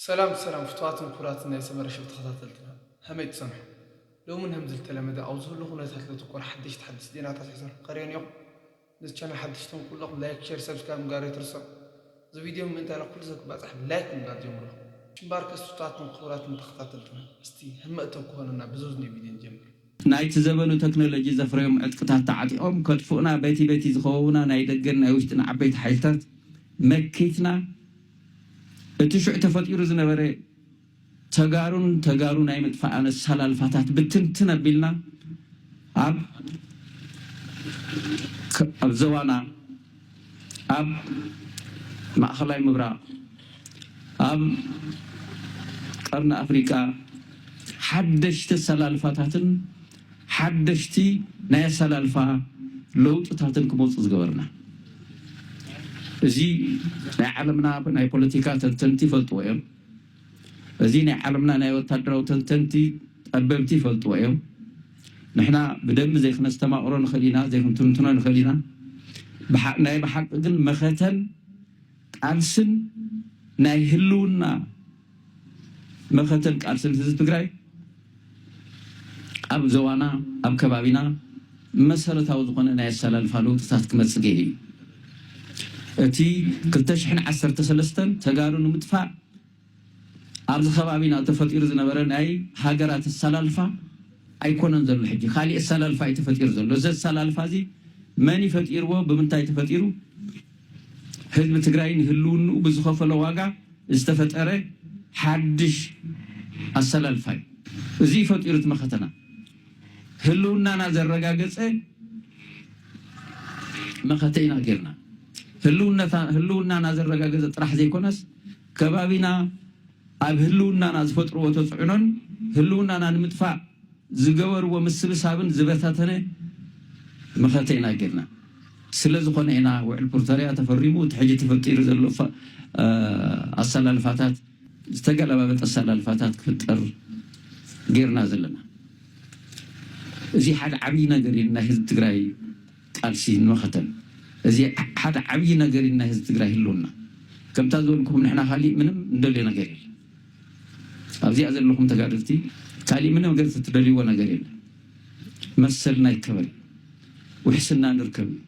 ሰላም ሰላም ፍትዋትን ኩራትን ናይ ሰመረ ሸው ተከታተልትና ሀመይ ትሰንሑ ሎሚ ን ሀምዚ ልተለመደ ኣብ ዝህሉ ኩነታት ለትኩር ሐደሽቲ ሐደስቲ ዜናታት ሒዘልኩም ቀርየን ኢኩም ነዚ ቻነል ሐደሽቲ ትኩን ኩለኩም ላይክ ሸር ሰብስክራይብ ምግባር ኣይትርስዑ እዚ ቪድዮ ምእንታይ ንኩሉ ሰብ ክባጻሕ ብላይክ ምግባር ጀምርዎ እምበኣርከስ ፍትዋትን ኩቡራትን ተከታተልትና እስቲ ህመእተው ክኮነና ብዝውዝኔ ቪድዮ ንጀምር። ናይቲ ዘበኑ ተክኖሎጂ ዘፍረዮም ዕጥቅታት ተዓጢቖም ከጥፍኡና በቲ በቲ ዝኸበቡና ናይ ደገን ናይ ውሽጥን ዓበይቲ ሓይልታት መኪትና እቲ ሽዑ ተፈጢሩ ዝነበረ ተጋሩን ተጋሩ ናይ ምጥፋእ ኣሰላልፋታት ብትንትን ኣቢልና ኣብ ዞባና ኣብ ማእኸላይ ምብራቕ፣ ኣብ ቀርኒ ኣፍሪቃ ሓደሽቲ ኣሰላልፋታትን ሓደሽቲ ናይ ኣሰላልፋ ለውጥታትን ክመፁ ዝገበርና እዚ ናይ ዓለምና ናይ ፖለቲካ ተንተንቲ ይፈልጥዎ እዮም። እዚ ናይ ዓለምና ናይ ወታደራዊ ተንተንቲ ጠበብቲ ይፈልጥዎ እዮም። ንሕና ብደንቢ ዘይክነስተማቕሮ ንኽእል ኢና፣ ዘይክንትንትኖ ንኽእል ኢና። ብሓ ናይ ብሓቂ ግን መኸተን ቃልስን ናይ ህልውና መኸተን ቃልስን ህዝቢ ትግራይ፣ ኣብ ዞባና ኣብ ከባቢና መሰረታዊ ዝኾነ ናይ ኣሰላልፋ ለውጥታት ክመፅእ ገይሩ እዩ። እቲ ክልተ ሽሕን ዓሰርተ ሰለስተን ተጋሩ ንምጥፋእ ኣብዚ ከባቢና ተፈጢሩ ዝነበረ ናይ ሃገራት ኣሰላልፋ ኣይኮነን ዘሎ ሕጂ ካሊእ ኣሰላልፋ እዩ ተፈጢሩ ዘሎ። እዚ ኣሰላልፋ እዚ መን እዩ ፈጢርዎ ብምንታይ ተፈጢሩ? ህዝቢ ትግራይ ንህልውንኡ ብዝኸፈሎ ዋጋ ዝተፈጠረ ሓድሽ ኣሰላልፋ እዩ። እዙይ ፈጢሩት መኸተና ህልውናና ዘረጋገፀ መኸተ ኢና ገይርና። ህልውናና ዘረጋገፀ ጥራሕ ዘይኮነስ ከባቢና፣ ኣብ ህልውናና ዝፈጥርዎ ተፅዕኖን ህልውናና ንምጥፋእ ዝገበርዎ ምስብሳብን ዝበታተነ መኸተ ኢና ገይርና። ስለዝኾነ ኢና ውዕል ፕርቶርያ ተፈሪሙ እቲ ሕጂ ተፈጢሩ ዘሎ ኣሰላልፋታት ዝተገላባበጠ ኣሰላልፋታት ክፍጠር ገይርና ዘለና። እዙይ ሓደ ዓብይ ነገር እዩ ንናይ ህዝቢ ትግራይ። ቃልሲ ንመኸተን እዚ ሓደ ዓብይ ነገር እዩ ናይ ህዝቢ ትግራይ ህልውና ከምታ ዝበልኩም ንሕና ካሊእ ምንም ንደልዮ ነገር የለን ኣብዚኣ ዘለኹም ተጋደልቲ ካሊእ ምንም ነገር ትትደልይዎ ነገር የለን መሰልና ይከበር ውሕስና ንርከብ እዩ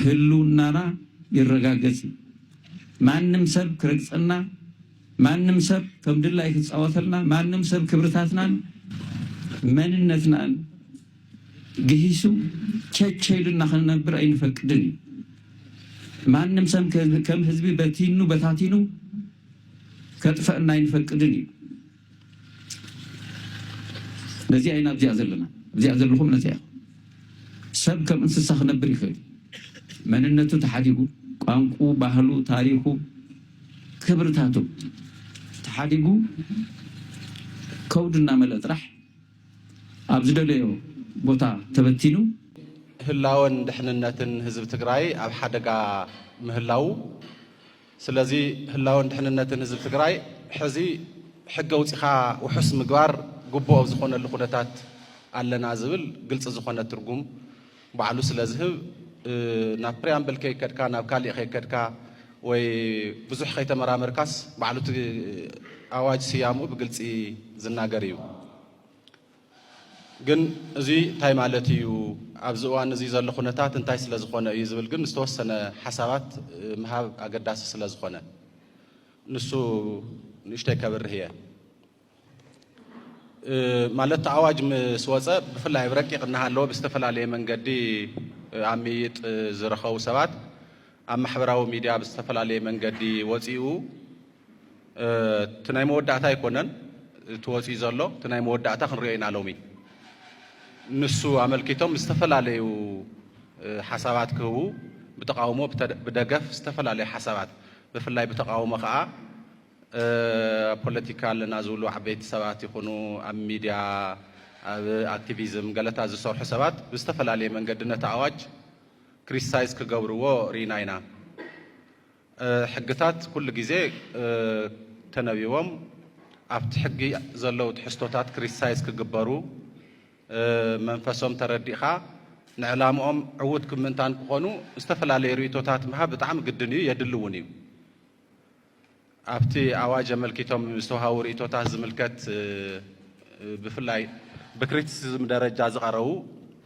ህልውናና ይረጋገፅ እዩ ማንም ሰብ ክረግፀና ማንም ሰብ ከምድላይ ክፃወተልና ማንም ሰብ ክብርታትናን መንነትናን ግሂሱ ቸቸ ኢሉና ክንነብር ኣይንፈቅድን እዩ። ማንም ሰብ ከም ህዝቢ በቲኑ በታቲኑ ከጥፈእና ኣይንፈቅድን እዩ። ነዚኣ ኢና ኣብዚኣ ዘለና ኣብዚኣ ዘለኹም ነዚኣ ኢኹም። ሰብ ከም እንስሳ ክነብር ይኽእል እዩ። መንነቱ ተሓዲጉ ቋንቁ፣ ባህሉ፣ ታሪኹ፣ ክብርታቱ ተሓዲጉ ከውዱ እናመልአ ጥራሕ ኣብ ዝደለዮ ቦታ ተበቲኑ። ህላወን ድሕንነትን ህዝቢ ትግራይ ኣብ ሓደጋ ምህላዉ ስለዚ ህላወን ድሕንነትን ህዝቢ ትግራይ ሕዚ ሕጊ ኣውፂኻ ውሑስ ምግባር ግቡእ ኣብ ዝኾነሉ ኩነታት ኣለና ዝብል ግልፂ ዝኾነ ትርጉም ባዕሉ ስለ ዝህብ ናብ ፕሪያምብል ከይከድካ ናብ ካሊእ ከይከድካ ወይ ብዙሕ ከይተመራመርካስ ባዕሉ እቲ ኣዋጅ ስያሙ ብግልፂ ዝናገር እዩ። ግን እዚ እንታይ ማለት እዩ ኣብዚ እዋን እዚ ዘሎ ኩነታት እንታይ ስለ ዝኾነ እዩ ዝብል ግን ዝተወሰነ ሓሳባት ምሃብ ኣገዳሲ ስለ ዝኾነ ንሱ ንእሽተይ ከብርህ እየ። ማለት ኣዋጅ ምስ ወፀ ብፍላይ ኣብ ረቂቕ እናሃለወ ብዝተፈላለየ መንገዲ ኣብ ምይይጥ ዝረኸቡ ሰባት ኣብ ማሕበራዊ ሚድያ ብዝተፈላለየ መንገዲ ወፂኡ እቲ ናይ መወዳእታ ኣይኮነን እቲ ወፂኡ ዘሎ እቲ ናይ መወዳእታ ክንሪኦ ኢና ሎሚ ንሱ ኣመልኪቶም ዝተፈላለዩ ሓሳባት ክህቡ ብተቃውሞ ብደገፍ ዝተፈላለዩ ሓሳባት ብፍላይ ብተቃውሞ ከዓ ኣብ ፖለቲካ ኣለና ዝብሉ ዓበይቲ ሰባት ይኹኑ ኣብ ሚድያ ኣብ ኣክቲቪዝም ገለታት ዝሰርሑ ሰባት ብዝተፈላለየ መንገዲ ነቲ ኣዋጅ ክሪቲሳይዝ ክገብርዎ ርኢና ኢና። ሕግታት ኩሉ ግዜ ተነቢቦም ኣብቲ ሕጊ ዘለው ትሕዝቶታት ክሪቲሳይዝ ክግበሩ መንፈሶም ተረዲእኻ ንዕላምኦም ዕዉት ክብ ምእንታን ክኾኑ ዝተፈላለዩ ርኢቶታት ምሃብ ብጣዕሚ ግድን እዩ የድሊ እውን እዩ። ኣብቲ ኣዋጅ ኣመልኪቶም ዝተውሃቡ ርእይቶታት ዝምልከት ብፍላይ ብክሪቲሲዝም ደረጃ ዝቐረቡ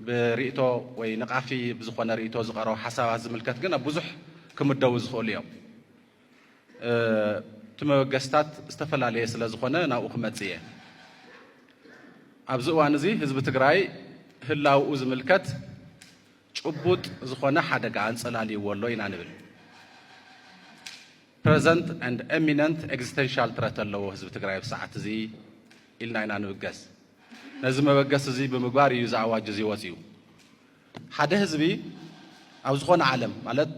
ብርእይቶ ወይ ንቃፊ ብዝኾነ ርእይቶ ዝቐረቡ ሓሳባት ዝምልከት ግን ኣብ ብዙሕ ክምደቡ ዝኽእሉ እዮም። እቲ መበገስታት ዝተፈላለየ ስለ ዝኾነ ናብኡ ክመጽእ እየ። ኣብዚ እዋን እዚ ህዝቢ ትግራይ ህላውኡ ዝምልከት ጭቡጥ ዝኾነ ሓደጋ ኣንጸላልይዎ ኣሎ ኢና ንብል። Present and Imminent Existential Threat ኣለዎ ህዝቢ ትግራይ ኣብ ሰዓት እዚ ኢልና ኢና ንብገስ። ነዚ መበገሲ እዚ ብምግባር እዩ እዚ ኣዋጅ እዚ ወፂኡ። ሓደ ህዝቢ ኣብ ዝኾነ ዓለም ማለት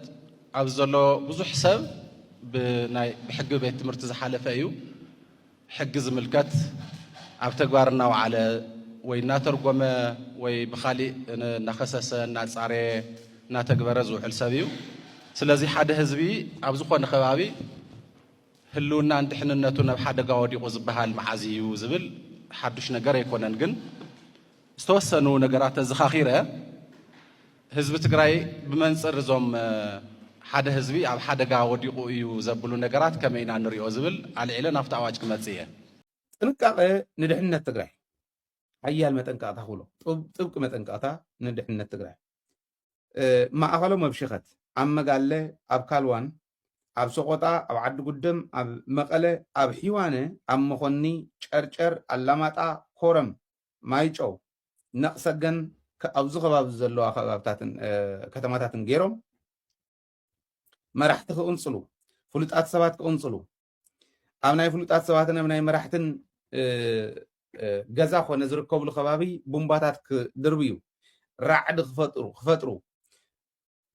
ኣብዚ ዘሎ ብዙሕ ሰብ ብናይ ብሕጊ ቤት ትምህርቲ ዝሓለፈ እዩ። ሕጊ ዝምልከት ኣብ ተግባር እናውዓለ ወይ እናተርጎመ ወይ ብኻሊእ እናኸሰሰ እናፃረየ እናተግበረ ዝውዕል ሰብ እዩ። ስለዚ ሓደ ህዝቢ ኣብ ዝኾነ ከባቢ ህልውናን ድሕንነቱን ኣብ ሓደጋ ወዲቑ ዝበሃል መዓዝ እዩ ዝብል ሓዱሽ ነገር ኣይኮነን። ግን ዝተወሰኑ ነገራት ተዘኻኺረ ህዝቢ ትግራይ ብመንፅር እዞም ሓደ ህዝቢ ኣብ ሓደጋ ወዲቑ እዩ ዘብሉ ነገራት ከመይ ኢና ንሪኦ ዝብል ኣልዒለ ናብቲ ኣዋጅ ክመፅእ እየ። ጥንቃቐ ንድሕነት ትግራይ ሓያል መጠንቀቕታ ክብሎ ጥብቂ መጠንቀቕታ ንድሕነት ትግራይ ማእኸሎም ኣብ ሽኸት ኣብ መጋለ ኣብ ካልዋን ኣብ ሰቆጣ ኣብ ዓዲ ጉደም ኣብ መቐለ ኣብ ሒዋነ ኣብ መኾኒ ጨርጨር ኣላማጣ ኮረም ማይጨው፣ ነቕሰገን ኣብዚ ከባቢ ዘለዋ ከባብታትን ከተማታትን ገይሮም መራሕቲ ክቕንፅሉ ፍሉጣት ሰባት ክቕንፅሉ ኣብ ናይ ፍሉጣት ሰባትን ኣብ ናይ መራሕትን ገዛ ኮነ ዝርከብሉ ከባቢ ቡምባታት ክድርብዩ ራዕዲ ክፈጥሩ ክፈጥሩ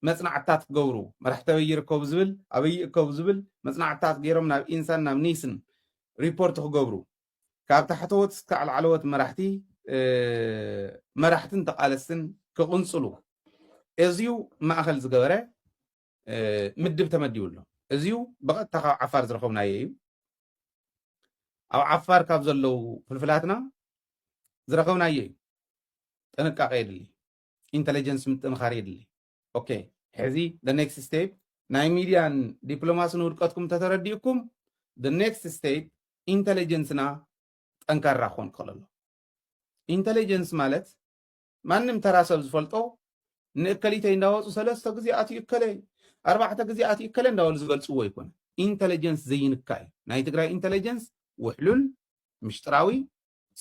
መፅናዕትታት ክገብሩ መራሕቲ ኣበይ ይርከቡ ዝብል ኣበይ ይእከቡ ዝብል መፅናዕትታት ገይሮም ናብ ኢንሳን ናብ ኒስን ሪፖርት ክገብሩ ካብ ታሕተዎት እስካዕ ላዕለዎት መራሕቲ መራሕትን ተቓለስትን ክቕንፅሉ እዝዩ ማእኸል ዝገበረ ምድብ ተመዲቡ ኣሎ። እዝዩ ብቐጥታ ካብ ዓፋር ዝረኸብናዮ እዩ። ኣብ ዓፋር ካብ ዘለው ፍልፍላትና ዝረኸብናዮ እዩ። ጥንቃቐ የድሊ፣ ኢንተለጀንስ ምጥንኻር የድሊ። ኦኬ ሕዚ the next step ናይ ሚድያን ዲፕሎማስን ውድቀትኩም እንተተረዲእኩም the next step ኢንተለጀንስና ጠንካራ ክኾን ክኽእል ኣሎ ኢንተለጀንስ ማለት ማንም ተራ ሰብ ዝፈልጦ ንእከሊተይ እንዳወፁ ሰለስተ ግዜ ኣትዩ እከለይ ኣርባዕተ ግዜ ኣትዩ እከለ እንዳበሉ ዝገልፅዎ ይኮነ ኢንተለጀንስ ዘይንካ እዩ ናይ ትግራይ ኢንተለጀንስ ውሕሉል ምሽጥራዊ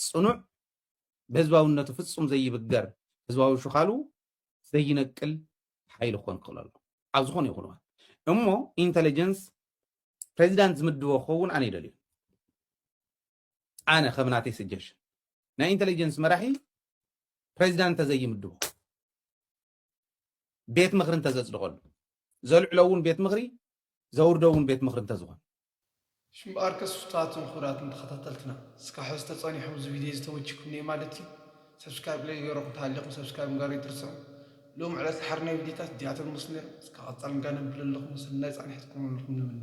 ጽኑዕ ብህዝባውነቱ ፍጹም ዘይብገር ህዝባዊ ሽኻሉ ዘይነቅል ሓይሊ ክኾን ክኽእል ኣሎ ኣብ ዝኾነ ይኹን እዋን እሞ ኢንተለጀንስ ፕሬዚዳንት ዝምድቦ ክኸውን ኣነ ይደልዩ ኣነ ከም ናተይ ስጀሽን ናይ ኢንተለጀንስ መራሒ ፕሬዚዳንት ተዘይምድቦ ቤት ምኽሪ እንተዘፅድቐሉ ዘልዕሎ እውን ቤት ምኽሪ ዘውርዶ እውን ቤት ምኽሪ እንተዝኾን ሽምበኣር ክሱታትን ክቡራትን ተኸታተልትና እስካብ ሕዚ ተጸኒሖም እዚ ቪድዮ እዚ ተመቺኩም እኔ ማለት እዩ ሰብስክራይብ ለይ ገይረኹም ተሃሊኹም ሰብስክራይብ ምግባር ይትርስዑ ሎም ዕለት ዝሓርናዮ ቪድዮታት እዚኣቶም ምስ ነይሮም እስካብ ቀጻሊ እንጋነብለለኹም ሰናይ ጻንሒት ክኾነልኩም ንምነ